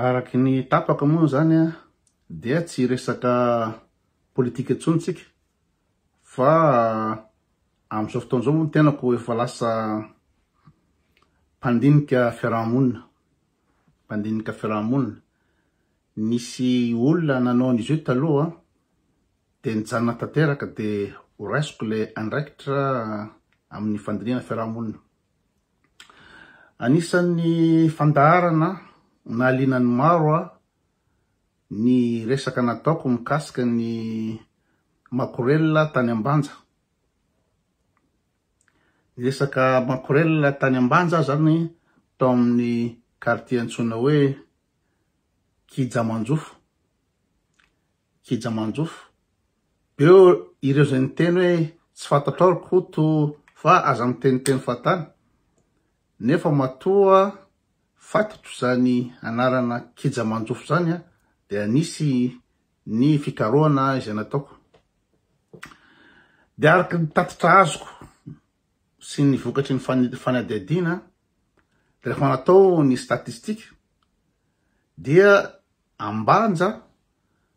Araka ny tapaka moa izany dia tsy hiresaka politika intsony isika fa amin'izao fotoana izao moa ny tenako efa lasa mpandinika fiaraha-monina, mpandinika fiaraha-monina. Nisy olona nanao an'izy io taloha dia nijanona tanteraka dia horaisiko ilay andraikitra amin'ny fandinihana fiaraha-monina. Anisan'ny fandaharana nahaliana ny maro ahy ny resaka nataoko mikasika ny makorelina tany Ambanja. Ny resaka makorelina tany Ambanja aho izany tao amin'ny quartier antsoina hoe Kijamanjofo. Kija manjofo. Beo ireo izay niteny hoe tsy fantatrao ry Koto fa aza miteniteny fantany nefa matoa fatatro izany anarana Kija manjofo izany dia nisy ny fikarohana izay nataoko. Dia araka ny tatitra azoko sy ny vokatry ny fanadihadiana rehefa natao ny statistika dia Ambanja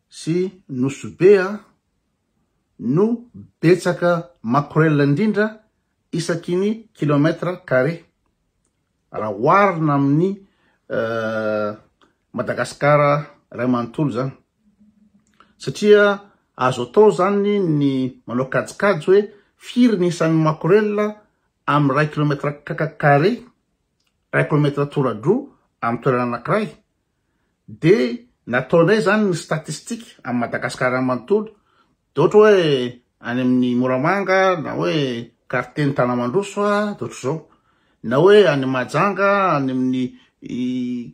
sy Nosy Be no betsaka makorelina indrindra isaky ny kilomètre carré raha oharina amin'ny Madagascar iray manontolo izany satria azo atao izany ny manao kajikajy hoe firy ny isan'ny makorelina amin'ny iray kilomètre carré, iray kilomètre toradroa amin'ny toerana anankiray. Dia nataonay izany ny statistique amin'i Madagasikara manontolo, dia ohatra hoe any amin'ny Moramanga na hoe quartier-n'i Tanamandroso dia ohatr'izao, na hoe any Mahajanga any amin'ny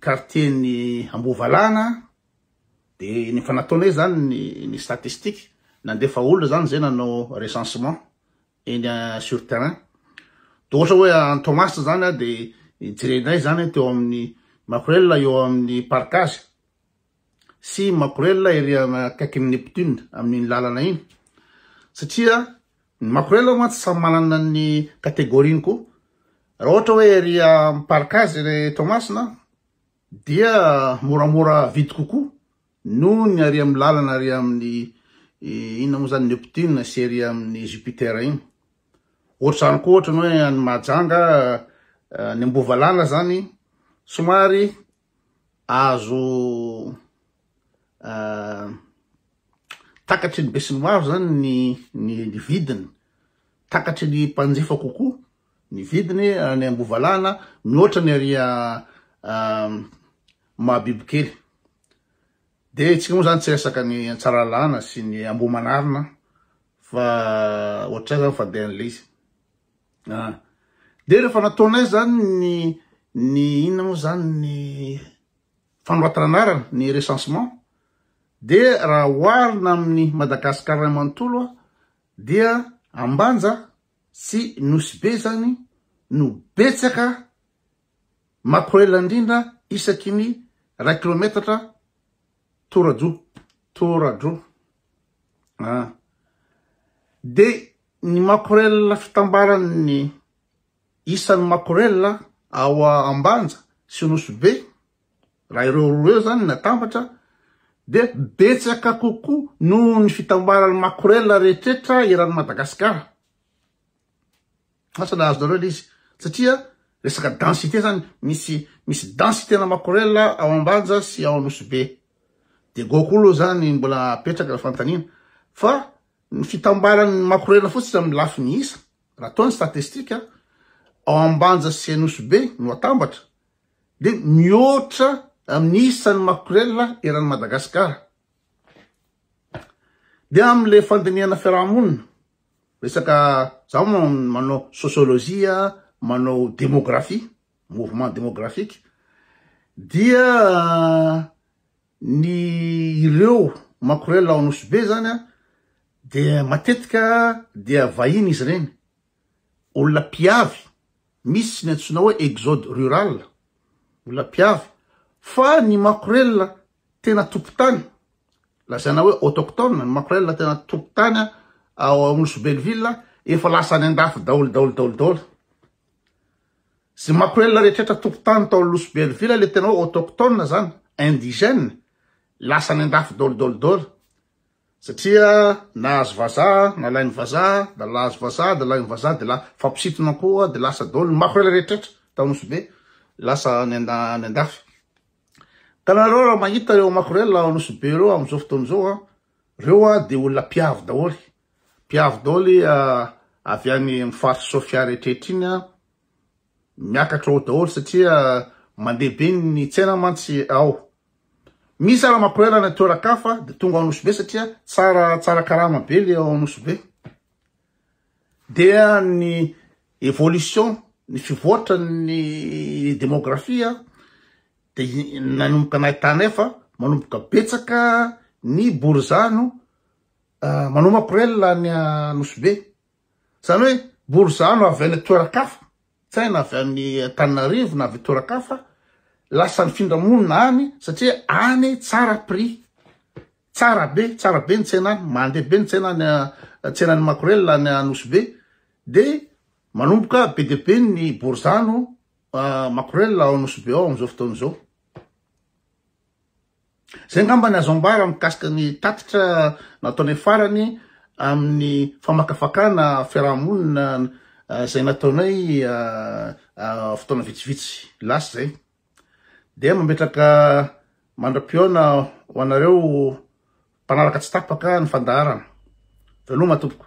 quartier-n'i Ambohivalana, dia efa nataonay izany ny statistique, nandefa olona izany izay nanao recensement, eny sur terrain de ohatra hoe any Toamasina zany a de jerenay zany teo amin'ny Makorelina eo amin'ny partage sy Makorelina ery akaikin'ny Neptune amin'iny lalana iny satria ny Makorelina mantsy samy manana ny catégorie-ny koa raha ohatra hoe ery amin'ny partage ery Toamasina dia moramora vidy kokoa Noho ny ary amin'ny lalana ary amin'ny inona moa izany Neptune sy ery amin'ny Jupiter iny. Ohatr'izany koa ohatra ny hoe any Mahajanga, any Ambovalala izany somary azo takatry ny besinimaro izany ny vidiny, takatry ny mpanjifa kokoa. Ny vidiny any Ambovalahana mihoatra ny ary Mahabibikely. Dia isika moa zany tsy resaka ny Tsaralalana sy ny Ambohimanarina fa ohatray zany fa dia an'ilay izy. Ah. Dia rehefa nataonay zany ny ny inona moa zany ny fanoratana anarana ny recensement dia raha oharina amin'ny Madagasikara manontolo dia Ambanja sy Nosy Be izany no betsaka makorela indrindra isaky ny iray kilometatra toradroa toradroa an! dia ny makorela fitambaran'ny isan'ny makorela ao Ambanja sy Nosy Be Raha ireo roa ireo izany no atambatra dia betsaka kokoa noho ny fitambaran'ny makorela rehetrretra eran'i Madagasikara. Asa nahazo nareo ilay izy satria resaka densité izany misy misy densité na makorela ao Ambanja sy ao Anosibe. Dia go koa aloha izany mbola apetraka ny fanontaniana fa ny fitambaran'ny makorela fotsiny amin'ny lafiny isa raha toa ny statistika ao Ambanja sy Anosibe no atambatra dia mihoatra amin'ny isan'ny makorelina eran'i Madagasikara. Dia amin'ilay fandinihana fiarahamonina, resaka za manao sociologie, manao démographie, mouvement démographique, dia ny ireo makorelina ao Anosibe zany dia matetika dia vahiny izy ireny. olona mpiavy, misy ny antsoina hoe exode rural, olona mpiavy, fa ny makorelina tena tompon-tany, lazaina hoe autochtones, ny makorelina tena tompon-tany ao Anosy Belleville efa lasa any an-dafy daholo daholo daholo daholo. Izay makorelina rehetrrehetra tompon-tany tao Anosy Belleville, ilay tena hoe autochtones izany, indigènes, lasa any an-dafy daholo daholo daholo. Satria nahazo vazaha, nalain'ny vazaha, da lahazo vazaha, da lain'ny vazaha, de la fampisintona koa, de lasa daholo ny makorela rehetrretra tao Nosy-Be, lasa any any andafy. Ka nareo raha mahita reo makorela ao Nosy-Be reo amzao fotoana zao a, reo a de olona mpiavy daholy, mpiavy daholy avy any am faritra Sofia rehetrretra iny a, Miakatra ao daholo satria mandeha be ny tsena mantsy ao. Misy ara makoela any toeran-kafa dia tonga ao Nosy-Be satria tsara tsara karama be le ao Nosy-Be. Dia ny évolution, ny fivoatra ny démographie dia nanomboka nahitanay fa manomboka betsaka ny borizano manao makorel any Nosy-Be. Izany hoe borizano avy any toeran-kafa, tsy hay na avy any Antananarivo na avy toeran-kafa, lasa nifindra monina any satria any tsara prix. Tsara be, tsara be ny tsena any, mandeha be ny tsena any tsenan'ny Makorela any Anosy Be dia manomboka be dia be ny borizano Makorela ao Anosy Be ao amin'izao fotoana izao. Izay angamba ny azo ambara mikasika ny tatitra nataonay farany amin'ny famakafakana fiarahamonina izay nataonay fotoana vitsivitsy lasa izay. Dia mametraka mandra-pihaona ho anareo mpanaraka tsy tapaka ny fandaharana. Veloma tompoko.